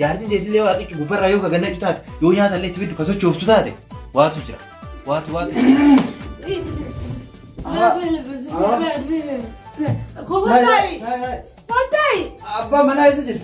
Jaartiin teetillee waaqichi gubbarraa yoo ka gannacu taate yoo nyaata illee itti fiddu ka sochooftu taate waatu jira. Waatu waatu. Abbaa manaa isa jira.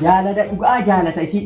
Jaalala dhugaa jaalata isii.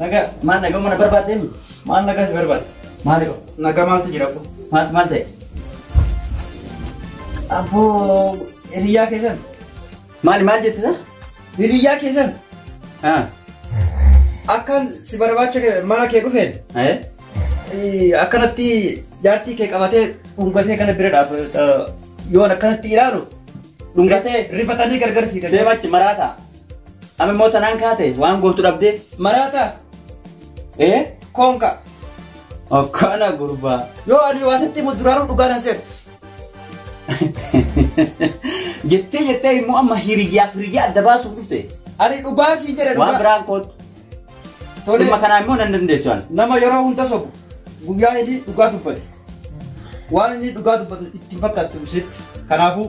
Nagaa maal nagaa mana barbaadde mi? Maal nagaa si barbaadde? Maali qaba? Nagaa maaltu jira qo? Maaltu maal ta'e? Abboo hiriyyaa keessan. Maali maal jette isaa? Hiriyyaa keessan Haa. akkaan si barbaacha kee- mana kee dhufeen Ee? eh, akkanatti jaartii kee qabatee dhungatee kana bira dhaabbata yoon akkanatti ilaalu Dhungatee? rifatanii gargar fiigan. Deemachi maraataa. Amma immoo tanaan kaate waan gootu dhabdee. Maraata. Ee? Koonka. Akkana gurbaa. Yoo ani waa sitti himu duraanuu dhugaa nan seeta. Jettee jettee immoo amma hiriyyaaf hiriyyaa adda baasuuf dhufte. Ani dhugaa sii jedhe Waan dhugaa. biraan kootu. Tole. Dhimma kanaa immoo nan dandeessu ani. Nama yeroo hunda sobu guyyaa inni dhugaa dubbate. Waan inni dhugaa dubbatu itti hin fakkaatu sitti. Kanaafuu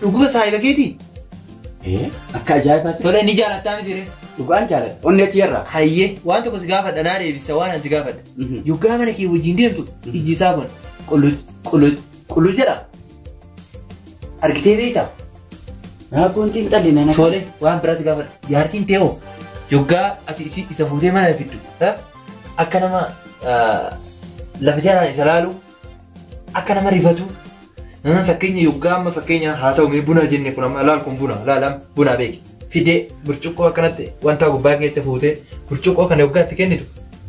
Dhuguma saahiba keetii? Ee, akka ajaa'ibaatti Tole ni jaalattaa miti ree? dhugaan jaaladha. Onnee tiyyarraa. Hayyee waan tokko si gaafadha naa deebisa waan ani si gaafadha. Mhm. Yoggaa mana kee wajjin deemtu ijji isaa kun qulluj qulluj qulluj jedha. Argitee beektaa? Raabboon xiinxalli nana. Tole waan biraa si gaafadha. Jaartiin tee hoo yoggaa ati isi- isa fuutee mana fiddu ha? akka nama ah, lafa jalaan isa laalu Akka nama rifatu fakkeenya yoggaa amma fakkeenya haa ta'u mee buna jenne kun amma laal kun buna laal amma buna beeki. Fidee burcuqqoo akkanatti wanta gubbaa keetti fuutee burcuqqoo kana yoggaa itti kennitu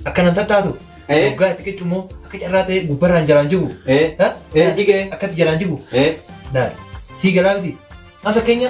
akkana hin tattaatu. Eh. Yoggaa itti qiccu immoo akka carraa ta'ee gubbarraan jalaan jigu. Eh. Ha? Eh, jigee. Akkatti jalaan jigu. Eh. Laal. Sii galaa miti. Amma fakkeenya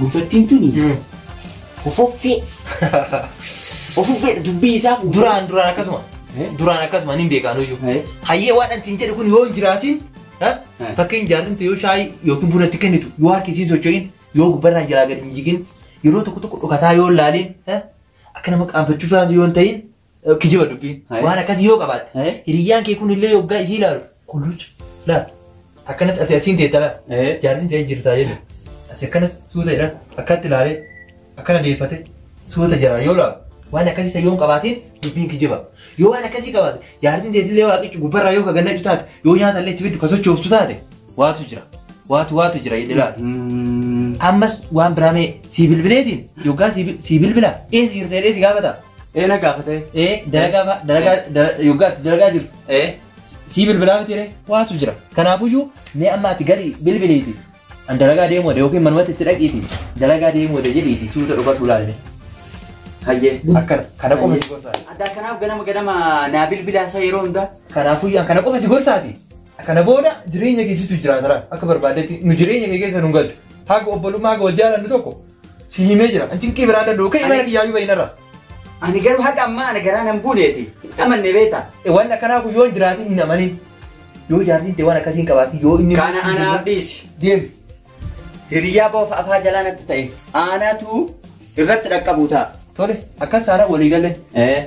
Gurbattiin tuni hofoffee. Hofoffee dubbii isaa fuudhee. Duraan duraan akkasuma. Eh? Duraan akkasuma ani hin beekaan iyyuu. Eh? Hayyee waan ani siin jedhu kun yoo hin jiraatiin ha? Eh. fakkeenya jaartin ta'e yoo shaayii yookiin buna itti kennitu yoo harki isiin socho'in yoo gubbarraan jalaa gadi hin jigin yeroo tokko tokko dhokataa yoo hin laaliin ha? akka nama qaanfachuu faatu yoo hin ta'in Kijiba dubbiin. Hai. Waan akkasii yoo qabaatte. Hai. Hiriyyaan kee kun illee yoggaa isii ilaalu. Kulluucha. Laal. Akkanatti ati asiin teetta laal. Eh. Jaarsiin ta'ee jirtaa jedhu. Asi akkana suuta jedha. Akkatti ilaalee. Akkana deeffate. Suuta jira yoo laalu. Waan akkasii isa yoon qabaatiin dubbiin kijiba. Yoo waan akkasii qabaate jaarsiin teessillee waaqichi gubbarraa yoo kagannachu taate yoo nyaata illee itti fiddu ka sochooftu taate waatu jira. Waatu waatu jira jedhe laal. Mm. Ammas waan biraa mee sii bilbileetiin yoggaa sii bilbilaa eessa jirtee dheessi gaafata. Ee na gaafate. Ee dalagaa fa- dalagaa dala- yoggaa itti dalagaa jirtu Ee. sii bilbilaa miti ree waatu jira. Kanaafuyyuu mee amma ati galii bilbiliiti. An dalagaa deemuu wade yookiin manumatti itti dhaqiiti dalagaa deemuu wade jedhiiti suuta dhufadhu laalee. Hayyee. Akkana kana qofa si gorsaati. Addaa kanaaf ganama ganama naa bilbilaa isaa yeroo hundaa. Kanaafuyyuu an kana qofa si gorsaati. Kana booda jireenya keessattu jiraatara akka barbaaddetti nu jireenya kee keessa nu galchu. Haga obbolummaa haga wal jaalannu tokko Si himee jira. An cinqii biraa danda'u. Ka'ii mana kiyyaa iyyuu bahinarra. Ani garuu haga ammaa ana garaa nan buuneeti. Amanne beeta. Waan akkanaa kun yoo hin jiraatin hin amanin. Yoo jaartiin ta'e waan akkasii hin qabaatin yoo inni. Kana anaaf dhiisi. Deemi. Hiriyaa boofa afaa jalaa natti ta'e. Aanaatu irratti dhaqqabu ta'a. Tole akkas taanaan walii galle. Eh.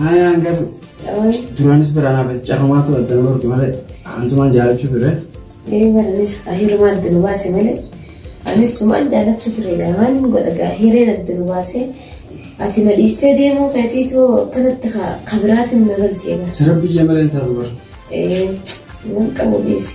Haaya hangasu. Duraanis biraan hafe carrumaatu adda nama rukke malee antumaan jaalachuu ture. Ee baranis hiruma adda nu baase malee anis sumaan jaalachuu ture gaa maal hin godha gaa hireen adda nu baase ati na dhiistee deemuu keetiitu akkanatti ka- ka biraatiin na galchee gaa. Tara biyya malee hin taatu bara. Ee waan qabu dhiisi.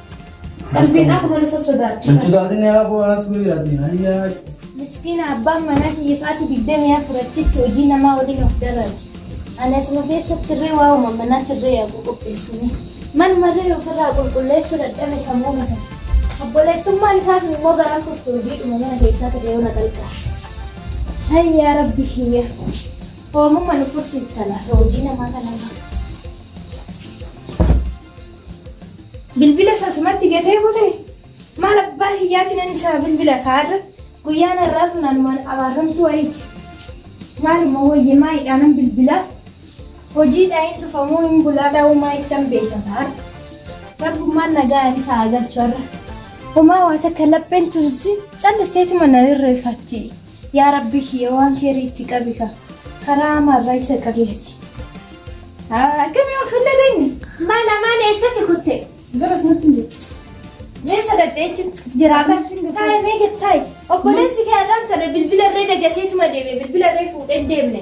Qalbiin akkuma na sossodaatti. Hin sodaatin yaa aboo anas guyyaati hayyaa. Miskiina abbaan manaa kiyya sa'aatii digdamii afur achitti hojii namaa waliin of dararu. Ani asuma keessatti irree waa uuma manaa tirree yaa qulqulleessuni. Manuma irree ofirraa qulqulleessuu dadhabe sammuu mata. Obboleettummaan isaa sun immoo garaan kurtu hojiidhuma mana keessaa ta'e yoo na qalqaa. Hayyaa rabbi kiyya. Hoomuma nu fursiistana hojii namaa kanarraa. Bilbila isaa sumatti gatee kute maal abbaa kiyyaati nan isaa bilbila kaarra guyyaan har'aa sun anumaan abaarramtuu wayiiti. Maaluma wayya maayidhaa nan bilbilaa hojiidhaa hin dhufamuu hin bulaadhaa uumaa ittan beeka kaarra. Rabbummaan nagaa ani isaa galchu har'a. Homaa waa takka lapheen tunsi callisteetuma na rirreeffatti. Yaa rabbii kiyya waan keeri itti qabi ka karaa hamaa irraa isa qabi ati. Akkamii of hin dhageenye. Maal amaan eessatti kutte? Garas natti hin jirtu. Eessa dhatte jechuun jiraa kan taa'e meeqa taa'e obboleessi kee arraan tana bilbila irree dagateetuma deeme bilbila irree fuudhee hin deemne.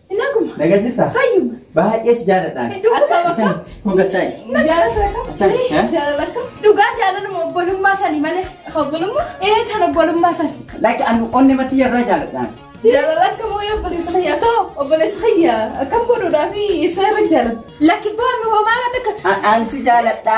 Naguma. Naga jirta? Fayyuma. Baay'ee si jaaladha. Dhukkuba bakka. Hogataa. Jaalala Acha, eh? akka. Jaalala akka. Dhugaa jaalaluma obbolummaa sani malee. Obbolummaa? Ee tan obbolummaa sani. Lakki anu onne matii yarraa jaaladha. Jaalala akka moo yoo obboleessa kiyyaa too obboleessa kiyyaa akkam godhuudhaa fi isa irra jaalala. Lakki boonu homaa waan takka. An si jaaladha.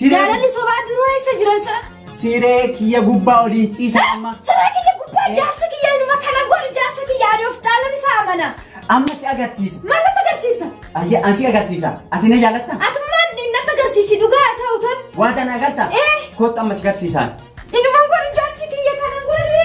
Jaalalli sobaa duruu eessa jiran sira? Siree kiyya gubbaa waliin ciisa amma. Siree kiyya gubbaa jaarsa kiyya inuma kana godhi jaarsa kiyya ani of caalan isa amana. Amma si agarsiisa. Maal natti agarsiista? Ayya an si agarsiisa. Ati na jaalatta? Atummaan inni natti agarsiisi dhugaa haa ta'u tun. Waan tana agarta? Eh. Kottu amma si agarsiisaan. Inumaan godhi jaarsi kiyya kana godhi.